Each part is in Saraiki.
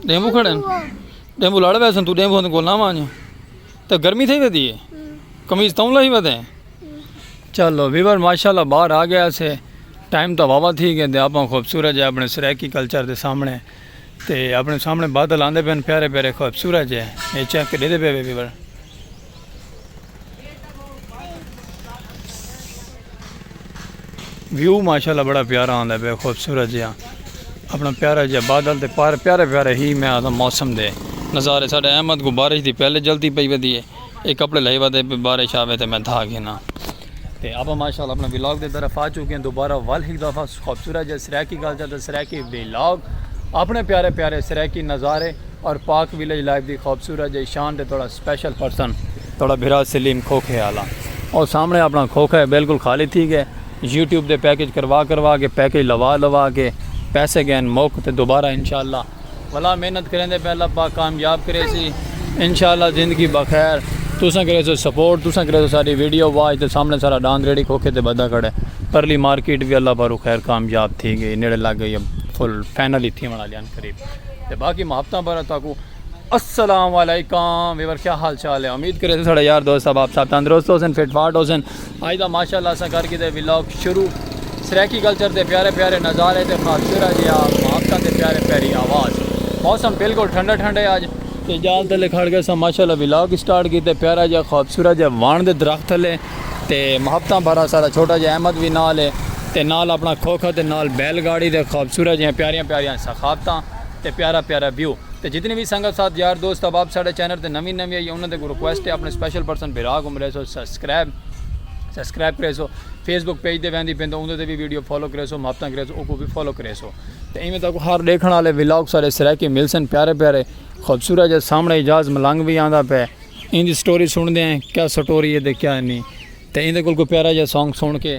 ڈیمبو کھڑے ڈیمبو لڑ ویسے تو ڈیمبو ہن کول نہ وانج تے گرمی تھی ودی ہے کمیز توں لہی ودے چلو ویور ماشاءاللہ باہر آ گیا سے ٹائم تو واوا تھی گئے تے اپاں خوبصورت جے اپنے سرائیکی کلچر دے سامنے تے اپنے سامنے بادل آندے پن پیارے پیارے خوبصورت جے اے چیک دے دے پے ویور ویو ماشاءاللہ بڑا پیارا آندا ہے خوبصورت جہاں اپنا پیارا جہاں بادل تے پار پیارے پیارے ہی میں آتا موسم دے نظارے ساڑھے احمد کو بارش دی پہلے جلدی پئی ودی ہے ایک کپڑے لہی ودے بارش آوے تے میں دھا گھنا تے آپا ماشاءاللہ اپنا ویلاگ دے طرف آ چکے ہیں دوبارہ وال ہک دفعہ خوبصورت جے سرائیکی گل جاتا سرائیکی ویلاگ اپنے پیارے پیارے سرائیکی نظارے اور پاک ویلیج لائف دی خوبصورت جے شان دے توڑا سپیشل پرسن توڑا بھرا سلیم کھوکھے آلا اور سامنے اپنا کھوکھا ہے بالکل خالی تھی گئے یوٹیوب دے پیکج کروا کروا کے پیکج لوا لوا کے پیسے گئے موک تے دوبارہ انشاءاللہ بھلا محنت کریندے پئے اللہ پاک کامیاب کریسی انشاءاللہ زندگی بخیر تساں کریسو سپورٹ تساں کریسو ساڈی ویڈیو واچ تے سامنے سارا ڈاند ریڑھی کھوکھے تے بدھا کھڑے پرلی مارکیٹ وی اللہ پاروں خیر کامیاب تھی گئی نیڑے لگ گئی اب فل فائنل ہی تھیون آلیاں قریب تے باقی محبتاں بھرا تاکو السلام علیکم ویور کیا حال چال ہے امید کریسو ساڈے یار دوست احباب صاحب تندرست ہوسن فٹ فاٹ ہوسن اج دا ماشاء اللہ اساں کر گھدے ولاگ شروع سرائیکی کلچر دے پیارے پیارے نظارے تے خوبصورت جیا محبتاں دے پیارے پیاری آواز موسم بالکل ٹھنڈا ٹھنڈا ہے اج تے جال تلے کھڑ گئے ساں ماشاء اللہ ولاگ سٹارٹ کیتے پیارا جیا خوبصورت جیا وان دے درخت تلے تے محبتاں بھرا سارا چھوٹا جیا احمد وی نال ہے تے نال اپنا کھوکھا تے نال بیل گاڑی دے خوبصورت جیا پیاریاں پیاریاں سخافتاں تے پیارا پیارا ویو تے جتنی وی سنگت ساتھ یار دوست احباب ساڈے چینل تے نوی نوی آئی انہاں دے کو ریکویسٹ ہے اپنے سپیشل پرسن بھرا کو ملے سو سس سبسکرائب سبسکرائب کریسو فیس بک پیج تے ویندی پین تے اوندے تے بھی ویڈیو فالو کریسو محبتاں کریسو اوکو بھی فالو کریسو تے ایویں تاکو ہر دیکھن والے ولاگ سارے سرائیکی مل سن پیارے پیارے خوبصورت جے سامنے اجاز ملنگ بھی آندا پے ایندی سٹوری سن دے ہیں کیا سٹوری ہے تے کیا نہیں تے ایندے کول کوئی پیارا جے سانگ سن کے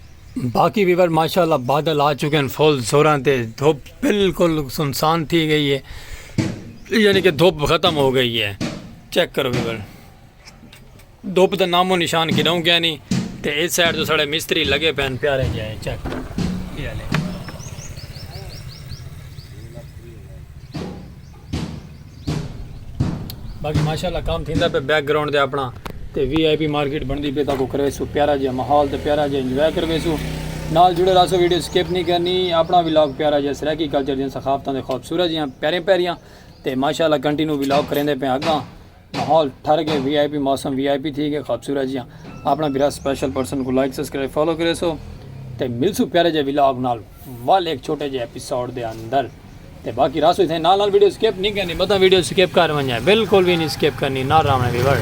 باقی ویور ماشاءاللہ بادل آ چکے ہیں فل زوراں تے دھوپ بالکل سنسان تھی گئی ہے یعنی کہ دھوپ ختم ہو گئی ہے چیک کرو ویور دھوپ دا نام و نشان کڈاؤں گیا نہیں تے اس سائڈ تو ساڑے مستری لگے پہن پیارے جائے چیک کرو باقی ماشاءاللہ کام تھیندا پہ بیک گراؤنڈ دے اپنا تے وی آئی پی مارکیٹ بندی پہ تاکو کروے سو پیارا جہاں محال تے پیارا جہاں انجوائے کروے سو نال جڑے رہا سو ویڈیو سکیپ نہیں کرنی اپنا ویلاگ پیارا جہاں سرائیکی کلچر جہاں سخافتان دے خوبصورت جہاں پیارے پیاریاں تے ماشاءاللہ کنٹینو ویلاگ کریں دے پہ آگاں ماحول ٹھر گئے وی آئی پی موسم وی آئی پی تھی گئے خوبصورت جیاں اپنا برا سپیشل پرسن کو لائک سبسکرائب فالو کرے سو تے ملسو پیارے جے ولاگ نال ول ایک چھوٹے جے ایپیسوڈ دے اندر تے باقی راسو تھے نال نال ویڈیو سکپ نہیں کرنی بتا ویڈیو سکپ کر ونجا بالکل بھی نہیں سکپ کرنی نہ راونے ویور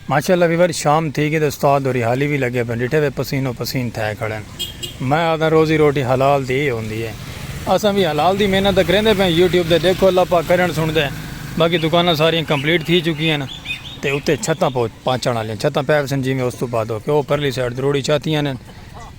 ماشاءاللہ ویور شام تھی گی تے استاد ہوری حالی وی لگے پن ڈٹھے وے پسین و پسین تھے کھڑن میں آدھاں روزی روٹی حلال دی ہی ہوندی ہے اساں وی حلال دی محنت تے کریندے پئے ہیں یوٹیوب تے ڈیکھو اللہ پاک کرن سنڑدے باقی دکاناں ساریاں کمپلیٹ تھی چکی ہن تے اتے چھتاں پہنچن آلیاں چھتاں پے وسن جیویں استو بعد او پرلی سائیڈ دروڑی چھتیاں ہن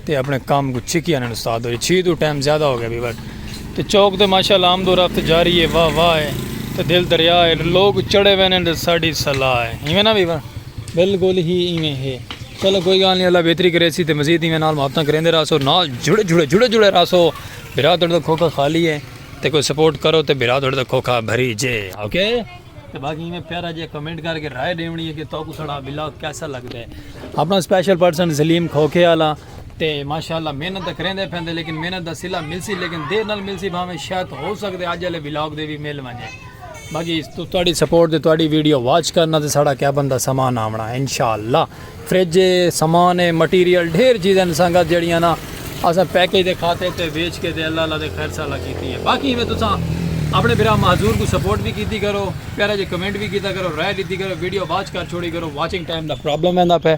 تے اپنے کام کو چھکی آنن استاد ہوئی چھی تو ٹائم زیادہ ہو گیا بھی بٹ تے چوک تے ماشاءاللہ آمد و رفت جاری ہے واہ واہ ہے تے دل دریا ہے لوگ چڑے وینے تے ساڑی صلاح ہے ایویں نا بھی بھائی بالکل ہی ایویں ہے چلو کوئی گال نہیں اللہ بہتری کرے سی تے مزید ایویں نال محبتاں کریں دے راسو نال جڑے جڑے جڑے جڑے راسو بھرا تڑ دا کھوکا خالی ہے تے کوئی سپورٹ کرو تے بھرا تڑ دا کھوکا بھری جے اوکے okay? تے باقی ایویں پیارا جے کمنٹ کر کے رائے دیونی ہے کہ تو کو سڑا بلاگ کیسا لگدا ہے اپنا اسپیشل پرسن سلیم کھوکھے والا تے ماشاءاللہ محنت تے کریندے پیندے لیکن محنت دا صلہ ملسی لیکن دیر نال ملسی بھاویں شاید ہو سکدے اج والے بلاگ دے بھی مل ونجے باقی تہاڈی سپورٹ تے تہاڈی ویڈیو واچ کرنا تے ساڈا کیا بندہ سامان آونا انشاءاللہ فرج ہے، سامان ہے، مٹیریل ڈھیر چیزاں دے سنگت جیڑیاں نا اساں پیکج دے کھاتے تے ویچ کے تے اللہ اللہ دے خیر سالا کیتی ہے باقی ایویں تساں اپنے بھرا معذور کوں سپورٹ وی کیتی کرو پیارا جے کمنٹ وی کیتا کرو رائے ڈیتی کرو ویڈیو واچ کر چھوڑی کرو واچنگ ٹائم دا پرابلم ایندا پے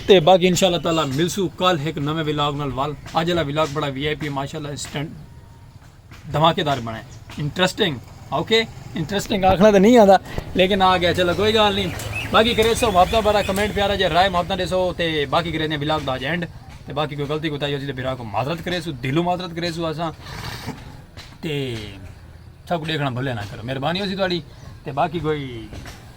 تے باقی انشاءاللہ تعالی ملسوں کل ہک نویں ولاگ نال ول اج والا ولاگ بڑا وی آئی پی ماشاءاللہ اسٹینڈ دھماکے دار بنے انٹرسٹنگ اوکے انٹرسٹنگ آکھنا تو نہیں آتا لیکن آ گیا چلو کوئی گال نہیں باقی کرے سو محبت بارا کمنٹ پیارا جی رائے محبت دے سو تے باقی کرے دیں ولاگ دا جینڈ تے باقی کوئی غلطی کوتا ہی ہو سی تے بیرا کو معذرت کرے سو دلو معذرت کرے سو آساں تے سب کو دیکھنا بھولے نہ کرو مہربانی ہو سی تھوڑی تے باقی کوئی